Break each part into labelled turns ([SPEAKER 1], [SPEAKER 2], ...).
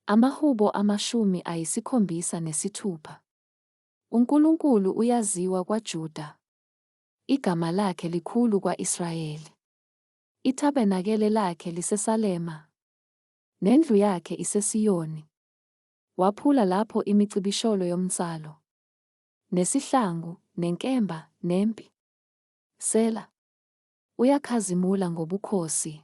[SPEAKER 1] AmaHubo amashumi ayisikhombisa nesithupha. UNkulunkulu uyaziwa kwaJuda. Igama lakhe likhulu kwa-Israyeli. Ithabernakele lakhe liseSalema. Nendlu yakhe iseSiyoni. Waphula lapho imicibisholo yomnsalo. Nesihlangu, nenkemba, nempi. Sela. Uyakhazimula ngobukhosi.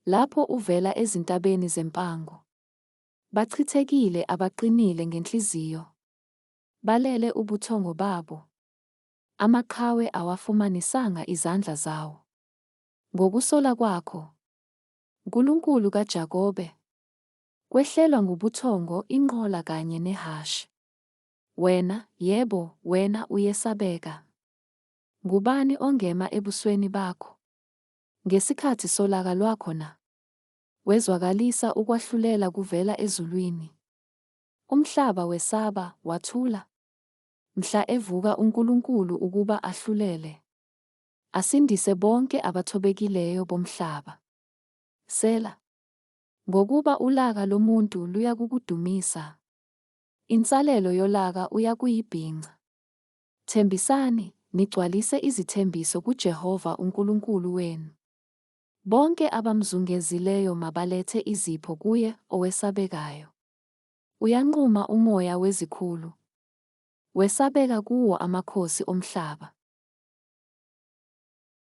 [SPEAKER 1] Lapho uvela ezintabeni zempango. Bachithekile abaqinile ngenhliziyo. Balele ubuthongo babo. Amaqhawe awafumanisanga izandla zawo. Ngokusola kwakho, Nkulunkulu kaJakobe, kwehlelwa ngubuthongo inqola kanye nehhashi. Wena, yebo, wena uyesabeka. Ngubani ongema ebusweni bakho? Ngesikhathi solaka lwakho na? Wezwakalisa ukwahlulela kuvela ezulwini. Umhlaba wesaba, wathula. Mhla evuka uNkulunkulu ukuba ahlulele, asindise bonke abathobekileyo bomhlaba. Sela. Ngokuba ulaka lomuntu luyakukudumisa, insalelo yolaka uyakuyibhinca. Thembisani, nigcwalise izithembiso kuJehova uNkulunkulu wenu. Bonke abamzungezileyo mabalethe izipho kuye owesabekayo. Uyanquma umoya wezikhulu, wesabeka kuwo amakhosi omhlaba.